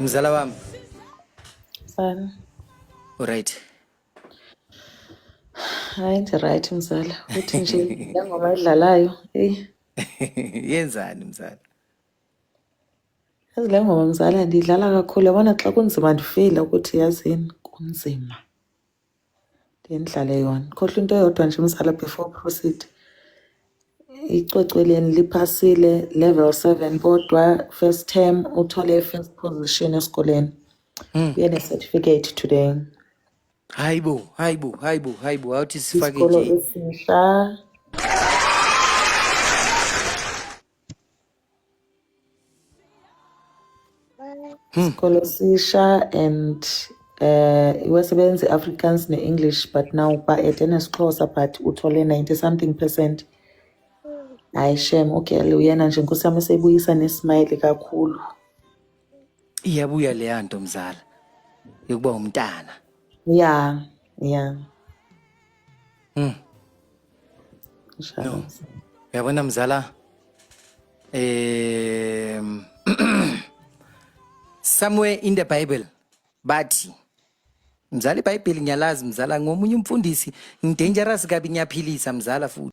Mzala wami. Mfana. Alright. Hayi nje right mzala. Uthi nje ngoma idlalayo. Hey. Yenzani mzala? Yazi le ngoma mzala ndiyidlala kakhulu yabona xa kunzima ndifile ukuthi yazini kunzima. Ndendlala yona. Khohlwa into eyodwa nje mzala before proceed. Icwecweleni liphasile level 7 kodwa first term uthole first position esikoleni. Mm. Uyene certificate today. Hayibo, hayibo, hayibo, hayibo. Awuthi sifake nje. Isikolo esisha. Hmm. Isikole sisha and uh, iwesebenza i-Afrikaans ne-English but now ba-ede nesiXhosa but uthole 90 something percent. Hayi shem ugirl uyena nje nkosi yami usebuyisa nesmile kakhulu. Iyabuya leya nto mzala yokuba umntana. Yeah, yeah. Mm. No. Uyabona mzala eh somewhere in the bible bathi mzala ibhayibheli ngiyalazi mzala ngomunye umfundisi ngidangerous kabi ngiyaphilisa mzala futhi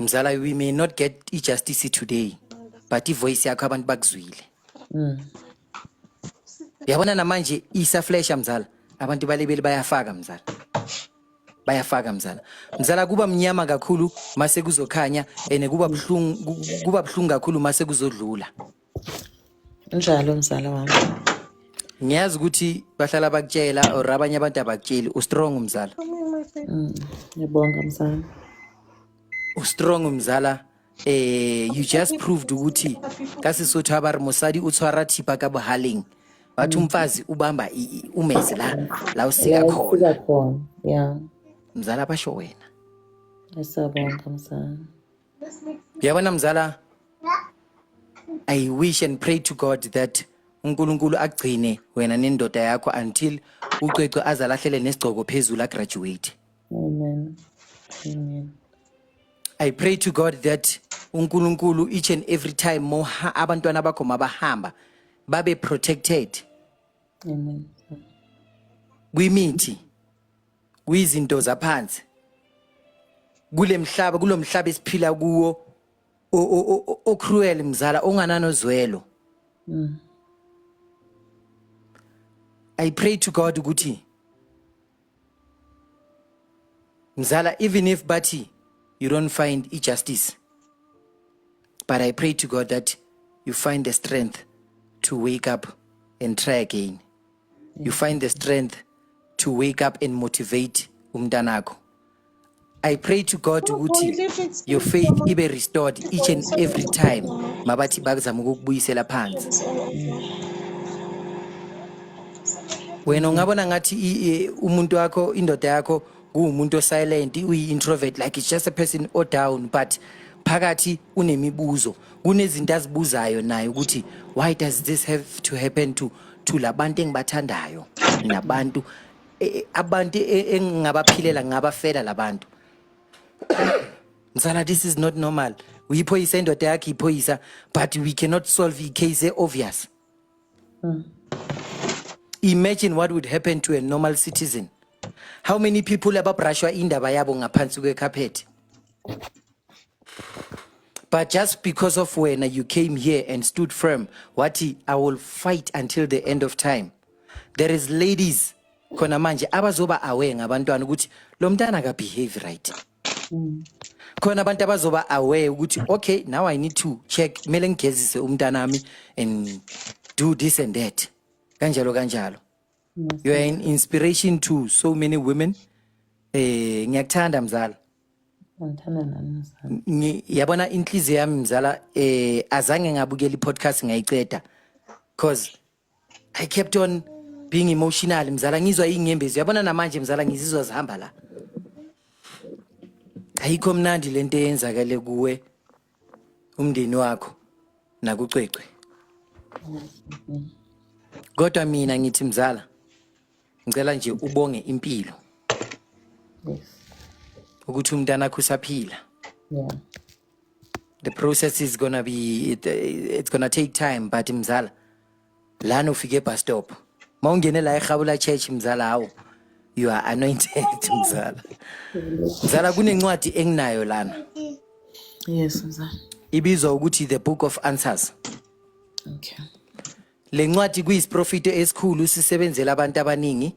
mzala we may not get i-justice today but ivoice yakho abantu bakuzwile Mm. yabona namanje isaflesha mzala abantu balebeli bayafaka mzala bayafaka mzala mzala kuba mnyama kakhulu mase kuzokhanya and kuba buhlungu ku- kuba buhlungu kakhulu mase kuzodlula Njalo mzala wami. Ngiyazi ukuthi bahlala bakutshela or abanye abantu abakutsheli ustrong mzala. Mm, Ngiyabonga mzala. Ustrong mzala eh you just proved ukuthi ka Sesotho ha ba re mosadi o tshwara thipa ka bohaleng. Batho mfazi ubamba i- i- umese la la o sika Yeah, khona. sika khona. Yeah. Mzala basho wena. Asabonga mzala. Yabona mzala I wish and pray to God that uNkulunkulu agcine wena nendoda yakho until ucwecwe azalahlele nesigcoko phezulu agraduate. Amen. Amen. I pray to God that uNkulunkulu each and every time more abantwana bakho mabahamba babe protected. Amen. Kwimithi kuyizinto zaphansi kulemhlaba kulomhlaba esiphila kuwo ocruel mzala ongananozwelo mm. i pray to god ukuthi mzala even if bathi you don't find i-justice but i pray to god that you find the strength to wake up and try again you find the strength to wake up and motivate umntanakho I pray to God ukuthi your faith ibe restored each and every time mabathi bakuzama ukukubuyisela phansi wena ungabona ngathi umuntu wakho indoda yakho kuwumuntu osilent uyi-introvert like it's just a person o down but phakathi unemibuzo kunezinto azibuzayo naye ukuthi why does this have to happen to to labantu engibathandayo nabantu e- e- abantu e- engingabaphilela ngingabafela labantu msana this is not normal uyiphoyisa indoda yakhe iphoyisa but we cannot solve icase e-obvious imagine what would happen to a normal citizen how many people ababrashwa indaba yabo ngaphansi kwekhaphethi But just because of when you came here and stood firm, wathi I will fight until the end of time. There is ladies khona manje abazoba aware ngabantwana ukuthi lo mntana aka behave right. Mm. Khona abantu abazoba aware ukuthi okay now I need to check kumele ngigezise umntanami and do this and that. Kanjalo kanjalo. You are an inspiration to so many women. Eh ngiyakuthanda mzala. Ngithanda nami mzala. Ngi- yabona inhliziyo yami mzala eh azange ngabukela i-podcast ngayiceda cause i kept on being emotional mzala ngizwa iy'nyembezi yabona namanje mzala ngizizwa zihamba la ayikho mnandi le nto eyenzakale kuwe umndeni wakho nakucwecwe kodwa mina ngithi mzala ngicela nje ubonge impilo ukuthi umntana akho usaphila the process is gonna be it, it's gonna take time but mzala lana ufike ebus stop uma ungene la erhabula church mzala hawu you are anointed mzala mzala kunencwadi enginayo lana Yes, mzala. ibizwa ukuthi the book of answers Okay. le ncwadi kuyisiprofito esikhulu sisebenzela abantu abaningi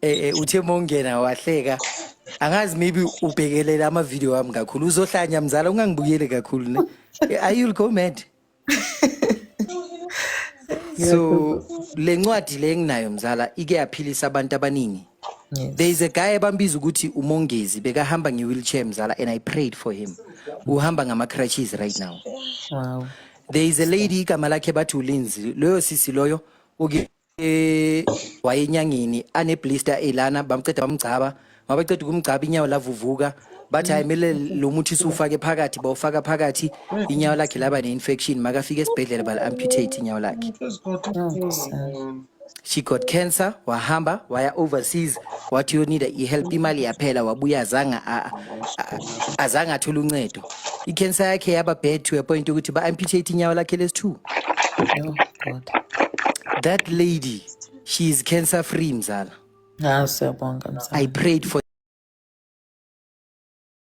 eh, eh, uthe mongena wahleka angazi maybe ubhekelela amavidiyo wami kakhulu uzohlanya mzala ungangibukeli kakhulu ne Eh, I- you'll go mad so le ncwadi le enginayo mzala ike yaphilisa abantu abaningi Yes. there is a guy abambiza ukuthi umongezi bekahamba nge-wheelchair mzala and i prayed for him uhamba ngama-crutches right now Wow. there is a lady igama lakhe bathi ulinzi loyo sisi loyo uke eh wayenyangini ane blister elana bamceda bamgcaba mabaceda ukumgcaba inyawo lavuvuka bathi hayi mele lo muthi siwufake phakathi bawufaka phakathi inyawo lakhe laba ne-infection makafika esibhedlela bal amputate inyawo lakhe she got cancer wahamba waya overseas wathi uyonida i-help imali yaphela wabuya azange a- a- azange athole uncedo ikhensa yakhe yaba bad to a point ukuthi ba-amputate inyawo lakhe lesi-two Oh God. that lady she is cancer free mzala Hawu siyabonga mzala. i prayed for